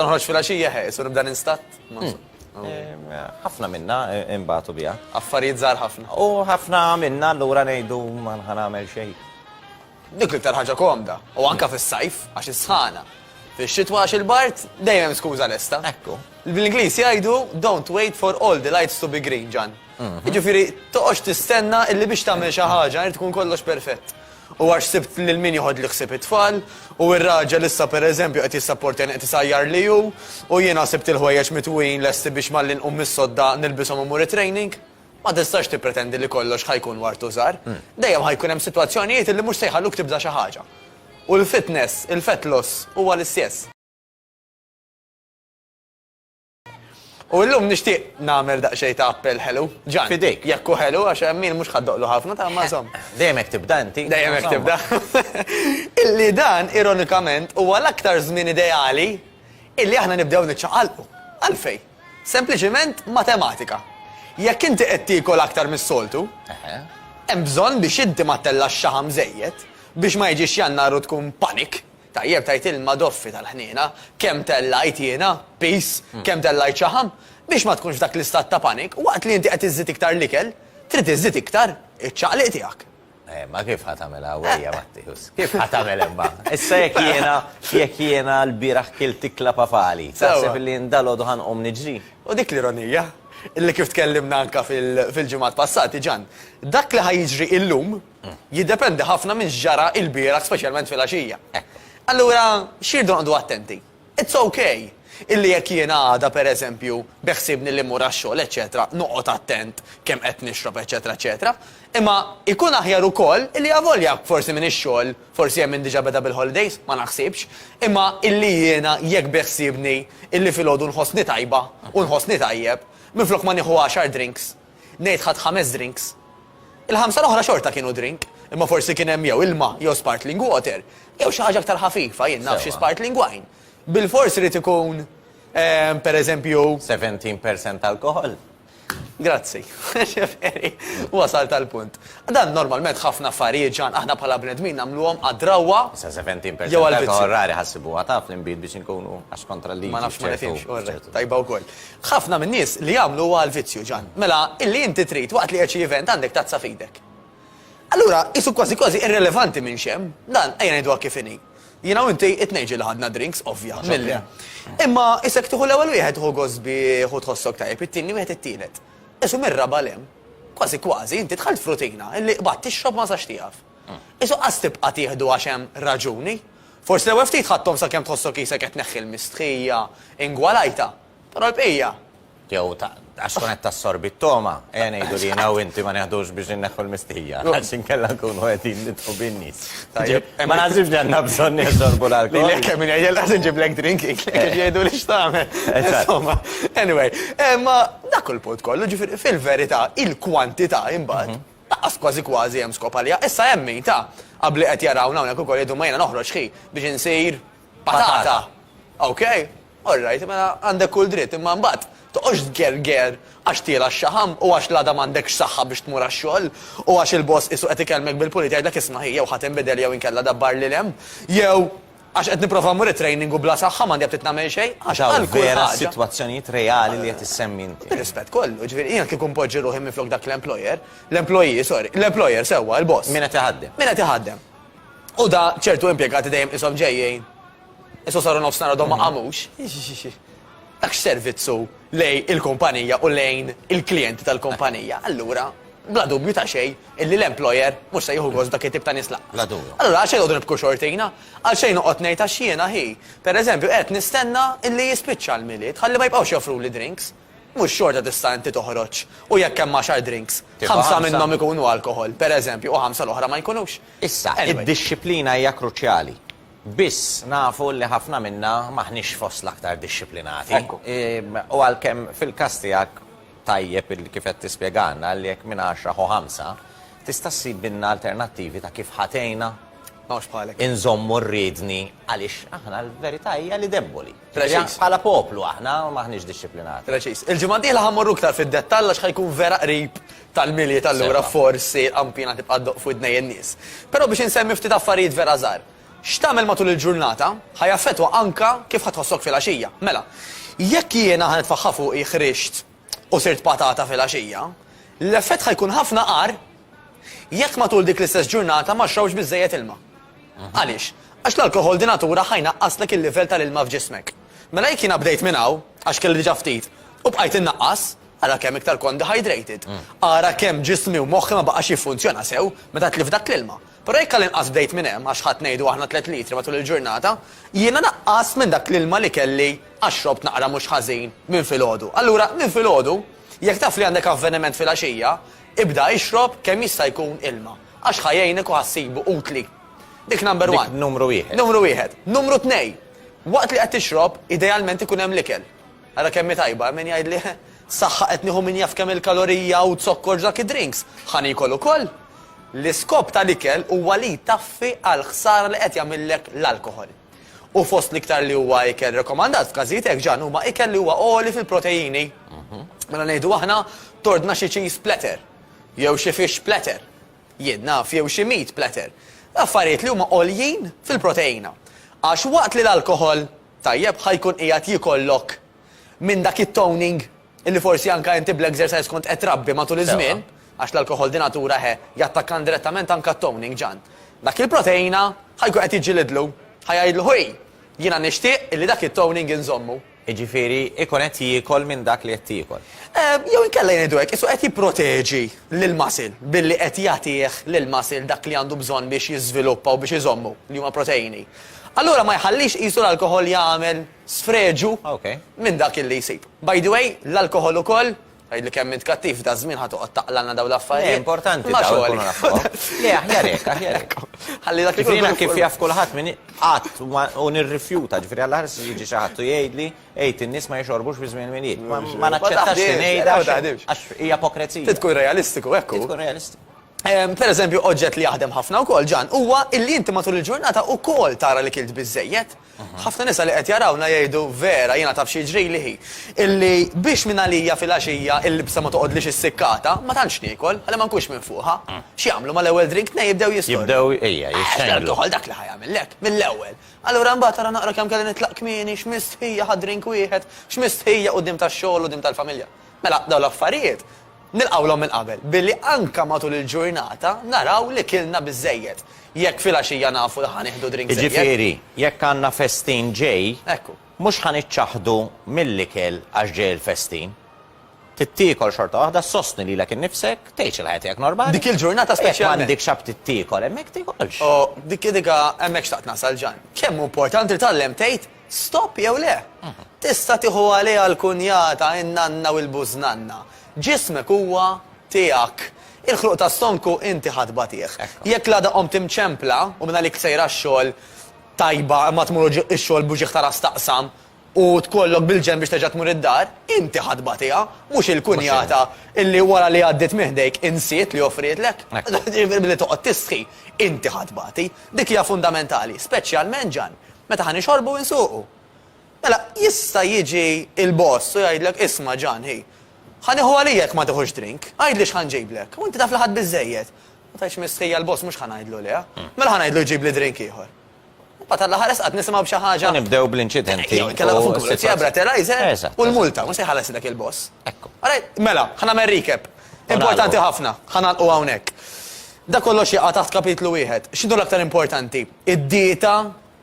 Noħroġ filgħaxija ħeqes u nibda ninstatt? Ma nso. Ehm, Ħafna minna e, imbagħtu biha. Affarijiet żgħar ħafna. U ħafna minna allura ngħidu ma nħa nagħmel xejn. Dik l-iktar ħaġa komda. U anka fis-sajf għax is-sħana. Fix-xitwa għax il-bart dejjem skuża lesta. Ekku. Bl-Ingliż jgħidu don't wait for all the lights to be green, Ġan. Mhm. Jiġifieri toqgħodx tistenna illi biex tagħmel xi ħaġa irid tkun kollox perfett. U għax sibt lil min joħodli ħsieb it-tfal, u r-raġel issa per eżempju qed jissapportjani qed isajjarli hu, u jiena sibt il-ħwejjeġ mitwujin lesti biex malli nqum mis-sodda nilbishom u mmur it-training, ma tistax tippretendi li kollox ħa jkun war tużar. Dejjem ħa jkun hemm sitwazzjonijiet illi mhux se jħalluk tibda xi ħaġa. U l-fitness, il-fat loss, huwa l-istjess. U illum nixtieq nagħmel daqsxejn ta' appell ħelu. Ġan. Fidejk. Jekk hu ħelu għax Emil mhux ħaddoqlu ħafna ta' ma żomm. Dejjem hekk tibda inti. Dejjem hekk tibda. Illi dan ironikament huwa l-aktar żmien ideali illi aħna nibdew niċċaqalqu. Għalfejn? Sempliċiment matematika. Jekk inti qed tiekol aktar mis-soltu, hemm bżonn biex inti ma ttellax xaħam żejjed biex ma jiġix Jannar u tkun panic Tajjeb tgħid ilma doffi tal-ħniena, kemm tellajt jiena, piż, kemm tellajt xaħam, biex ma tkunx f'dak l-istat ta' panic, waqt li inti qed iżżid iktar l-ikel, trid iżżid iktar iċ-ċaqliq tiegħek. Eh, ma kif ħa tagħmel għawwejja Matteus? Kif ħa tagħmel imma? Issa jekk jiena, jekk jiena l-bieraħ kilt ikla papali, taħseb li jien dalgħodu ħa nqum niġri? U dik l-ironija, illi kif tkellimna anke fil-ġimgħat passati, Ġann, dak li ħa jiġri illum, jiddependi ħafna minn x'ġara ilbieraħ speċjalment filgħaxija. Allura x'irdu noqogħdu attenti? It's ok illi jekk jiena għada pereżempju beħsiebni li mmur għax-xogħol eċċetera noqgħod attent kemm qed nixrob eċċetera eċċetera, imma jkun aħjar ukoll illi avolja forsi minn ix-xogħol forsi hemm min diġà beda bil-holidays, ma naħsibx, imma illi jiena jekk beħsiebni illi filgħodu nħossni tajba u nħossni tajjeb, minflok ma nieħu għaxar drinks Ngħid ħadt ħames drinks. Il-ħamsa l-oħra xorta kienu drink, imma forsi kien hemm jew ilma jew spartling water, jew xi ħaġa aktar ħafifa, jien naf xi spartling wine. Bilfors irid ikun, pereżempju. Seventeen percent alcohol? Grazzi. Jiġifieri, wasalt għall-punt. Dan normalment ħafna affarijiet, Ġan, aħna bħala bnedmin nagħmluhom għad-drawwa. Issa seventeen percent alcohol rari ħassibuha taf l-inbid biex inkunu għax kontra l-liġi. Ma nafx ma nifhimx, tajba wkoll. Ħafna min-nies li jagħmlu huwa l-vizzju, Ġann. Mela, illi inti trid, waqt li qed xi event, għandek tazza f'idek. Allura, qisu kważi kważi irrelevanti minn x'hemm. Dan, ejja ngħiduha kif inhi. Jiena u inti, it-tnejn ġieli ħadna drinks, ovvja, milli. Imma, isek tieħu l-ewwel wieħed, ħu gost bih u tħossok tajjeb, it-tieni wieħed it-tielet. Qisu mir-raba' 'l hemm. Kważi kważi, inti dħalt f'rutina, illi qbadt tixrob ma sax tieqaf. Qisu qas tibqa' tieħdu għax hemm raġuni. Forsi l-ewwel ftit ħadthom sakemm tħossok qisek qed tneħħi l-mistħija ingwalajtha, però l-bqija, jew għax tkun qed tassorbi t-togħma, ejja ngħidu li jiena u inti ma neħdux biex inneħħu l-mistħija, għax inkella nkunu qegħdin nidħlu bin-nies. Tajjeb, ma naħsibx li għandna bżonn neżorbu l-alkoħol. Lilek kemm min jgħidilha ħa nġiblek drink int lek kif jgħiduli x'tagħmel. Insomma, anyway, imma dak hu l-punt kollu, ġifieri fil-verità il-kwantità imbagħad Laqqas kważi kważi hemm skop għaliha. Issa hemm min, ta, qabli qed jarawna hawnhekk ukoll jgħidu ma jiena noħroġ ħi biex insir patata. Ok? All right, mela għandek kull dritt, imma mbagħad toqgħodx tgerger għax tiela' x-xaħam u għax l-għada m'għandekx saħħa biex tmur għax-xogħol u għax il-boss qisu qed ikellmek bil-pulit jgħidlek isma' ħi jew ħa tinbidel jew inkella dabbar lil hemm jew Għax qed nipprova mmur it-training u bla saħħa m'għandi aptit nagħmel xejn. Għax hawn vera sitwazzjonijiet reali li qed issemmi inti. Bir-rispett kollu, jiġifieri jiena kieku npoġġi ruħi minflok dak l-employer, l-employee, sorry, l-employer sewwa, il-boss. Min qed iħaddem. Min qed iħaddem. U da ċertu impjegati dejjem qishom ġejjin, issa saru nofsinhar għadhom ma qamux. tax servizzu lejn il-kumpanija u lejn il-klijenti tal-kumpanija, allura bla dubju ta' xejn illi l-employer mhux se jieħu gost dak it-tip ta' nies lanqas. Bla dubju. Allura għalxejn noqogħdu nibku xortina? Għalxejn noqgħod ngħid għax jiena hi, pereżempju, qed nistenna illi jispiċċa l-Milied ħalli ma jibqgħux joffruli drinks? Mhux xorta tista' inti toħroġ u jekk hemm għaxar drinks, ħamsa minnhom ikunu alkoħol, pereżempju, u ħamsa l-oħra ma jkunux? Issa, id-dixxiplina hija kruċjali. Biss, nafu li ħafna minna m'aħniex fost l-aktar dixxiplinati. U għalkemm fil-każ tiegħek tajjeb li kif qed tispjegalna li jekk minn għaxra ħu ħamsa, tista' ssibilna alternattivi ta' kif ħa tgħinna inżommu r-riedni għaliex aħna l-verità hija li debboli. Preċiż. Bħala poplu aħna m'aħniex dixxiplinati. Preċiż. Il-ġimgħa d-dieħla ħa mmorru iktar fid-dettall għax ħa jkun vera qrib tal-Milied allura forsi l-qampina tibqa' ddoqq f'widnej in-nies. Però biex insemmi ftit affarijiet vera żgħar. X'tagħmel matul il-ġurnata ħa jaffettwa anke kif ħa tħossok filgħaxija. Mela, jekk jiena ħa nitfaħħa fuqi ħrixt u sirt patata filgħaxija, l-effett ħa jkun ħafna agħar jekk matul dik l-istess ġurnata ma xrobx biżżejjed ilma. Għaliex? Għax l-alkoħol di natura ħa jnaqqaslek il-livell tal-ilma f'ġismek. Mela jekk jiena bdejt minn hawn, għax kelli diġà ftit, u bqajt innaqqas, ara kemm iktar kont dehydrated. Ara kemm ġismi u moħħi ma baqax jiffunzjona sew meta tlift dak l-ilma. Però jekk għall-inqas bdejt minn hemm, għax ħadt ngħidu aħna tliet litri matul il-ġurnata, jiena naqqast minn dak l-ilma li kelli għax xrobt naqra mhux ħażin minn filgħodu. Allura, minn filgħodu, jekk taf li għandek avveniment filgħaxija, ibda ixrob kemm jista' jkun ilma, għax ħa jgħinek u ħa ssibu utli. Dik number one. Dik numru wieħed. Numru wieħed. Numru tnej, waqt li qed tixrob, idealment ikun hemm l-ikel. Ara kemm hi tajba, hemm min jgħidli, He, saħħa qed nieħu min jaf kemm il-kalorija u zokkor f'dak id-drinks, ħa niekol ukoll! L-iskop tal-ikel huwa li jtaffi għall-ħsara li qed jagħmillek l-alkoħol. U fost l-iktar li huwa ikel rekomandat f'każijiet hekk, Ġann, huma ikel li huwa għoli fil-proteini. Mela ngħidu aħna, tordna xi cheese platter, jew xi fish platter, jien naf, jew xi meat platter, affarijiet li huma għoljin fil-proteina. Għax waqt li l-alkoħol Tajjeb, ħa jkun qiegħed jikollok minn dak it-toning illi forsi anka inti bl-exercise kont qed trabbi matul iż-żmien, għax l-alkoħol di natura he, jattakka indirettament anka t-toning, Ġan. Dak il-proteina ħa jkun qed jiġġilidlu, ħa jgħidlu ħuj, jiena nixtieq illi dak it-toning inżommu. Jiġifieri ikun qed jiekol minn dak li qed tiekol. Jew inkella ngħidu hekk, qisu qed jipproteġi lill-muscle billi qed jagħtih lill-muscle dak li għandu bżonn biex jiżviluppa u biex iżommu, li huma proteini. Allura ma jħallix qisu l-alkoħol jagħmel sfreġu minn dak illi jsib. By the way, l-alkoħol ukoll, tgħidli kemm int kattiv, daż-żmien ħa toqgħod taqlagħlna dawn l-affarijiet. Le, importanti dawn ikunu nafuhom. Le, aħjar hekk, aħjar hekk. Ħalli dak ikun. Jiena kif jaf kulħadd min qatt u nirrifjuta, ġifieri għall-aħħar se jiġi xi ħadd u jgħidli, għid in-nies ma jixorbux fi żmien il-Milied. Ma naċċettax li ngħidha għax hija ipokrezija. Trid tkun realistiku, hekk hu. Trid tkun realistiku. Pereżempju, oġġett li jaħdem ħafna wkoll, Ġan, huwa illi inti matul il-ġurnata wkoll tara li kilt biżżejjed. Ħafna nisa li qed jarawna jgħidu, Vera, jiena taf xi jiġrili hi, illi biex mingħalija filgħaxija il-libsa ma toqgħodlix issikkata, ma tantx niekol, ħalli ma nkunx minfuħa. X'jagħmlu mal-ewwel drink nej jibdew jistordu. Jibdew, ejja, jixxenglu. L-alkoħol dak li ħa jagħmillek, mill-ewwel. Allura mbagħad ara naqra kemm kelli nitlaq kmieni, x'mistħija ħadt drink wieħed, x'mistħija quddiem tax-xogħol u quddiem tal-familja. Mela, dawn l-affarijiet, Nilqgħulhom minn qabel billi anke matul il-ġurnata naraw li kilna biżżejjed. Jekk filgħaxija nafu li ħa nieħdu drink żejjed. Jiġifieri, jekk għandna festin ġej, mhux ħa niċċaħħdu mill-ikel għax ġej il-festin. Trid tiekol xorta waħda, ssostni lilek innifsek, tgħix il-ħajja tiegħek normali. Dik il-ġurnata speċjalment. Jekk m'għandikx aptit tiekol hemmhekk tiekolx. Oh, dik, dik, hemmhekk xtaqt nasal, Ġan. Kemm hu importanti li tgħallem tgħid Stop jew le? Tista' tieħu għaliha l-kunjata, in-nanna u l-bużnanna. Ġismek huwa tiegħek. Il-ħluq ta' stonku inti ħa tbatih. Jekk l-għada qomt imċempla u mingħalik sejra x-xogħol tajba imma tmur u x-xogħol b'uġigħ ta' ras taqsam u tkollok bil-ġenb biex terġa' tmur id-dar, inti ħa tbatiha, mhux il-kunjata illi wara li għaddiet minn ħdejk insiet li offrietlek. Billi toqgħod tistħi, inti ħa tbati. Dik hija fundamentali, speċjalment, Ġann, Meta ħa nixorbu u nsuqu. Mela, jista' jiġi l-boss u jgħidlek, isma' Ġan, hi, ħa nieħu għalija jekk ma tiħux drink, għidli x'ħa nġiblek. U inti taf li ħadt biżżejjed. Ma tgħidx mistħija l-boss mhux ħa ngħidlu lejha. Mela ħa ngħidlu jġibli drink ieħor. Mbagħad għall-aħħar esqat nisimgħu b'xi ħaġa. Nibdew bl-inċidenti. Kellha fuq il-pulizija breterizer u l-multa, mhux se jħalleslek il-boss. Ekku. Mela, ħa nagħmel recap. Importanti ħafna, ħa nagħlqu hawnhekk. Dak kollox jaqa' taħt kapitlu wieħed. X'inhu l-aktar importanti? id-dieta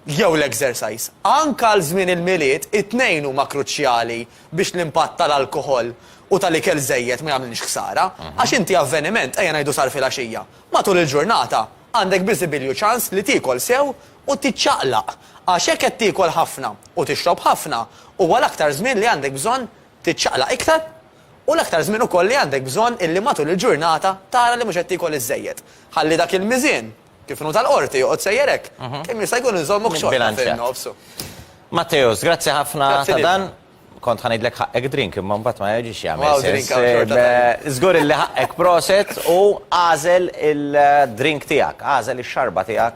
jew l-exercise. Anke għal żmien il-Milied, it-tnejn huma kruċjali biex l-impatt tal-alkoħol u tal-ikel żejjed ma jagħmlilx ħsara. Għax inti avveniment, ejja ngħidu sar filgħaxija, matul il-ġurnata għandek biżibilju ċans li tiekol sew u tiċċaqlaq. Għax jekk qed tiekol ħafna u tixrob ħafna, huwa l-aktar żmien li għandek bżonn tiċċaqlaq iktar u l-aktar żmien ukoll li għandek bżonn illi matul il-ġurnata tara li mhux qed tiekol iż-żejjed. Ħalli dak il-miżien. Kif inhu tal-Qorti, joqgħod sejjer hekk. Kemm jista' jkun inżommuk xorta fin-nofs. Matteus, grazzi ħafna ta' dan. Kont ħa ngħidlek ħaqqek drink imma mbagħad ma jiġix jagħmel sens. Żgur illi ħaqqek proset u agħżel il-drink tiegħek, agħżel ix-xarba tiegħek.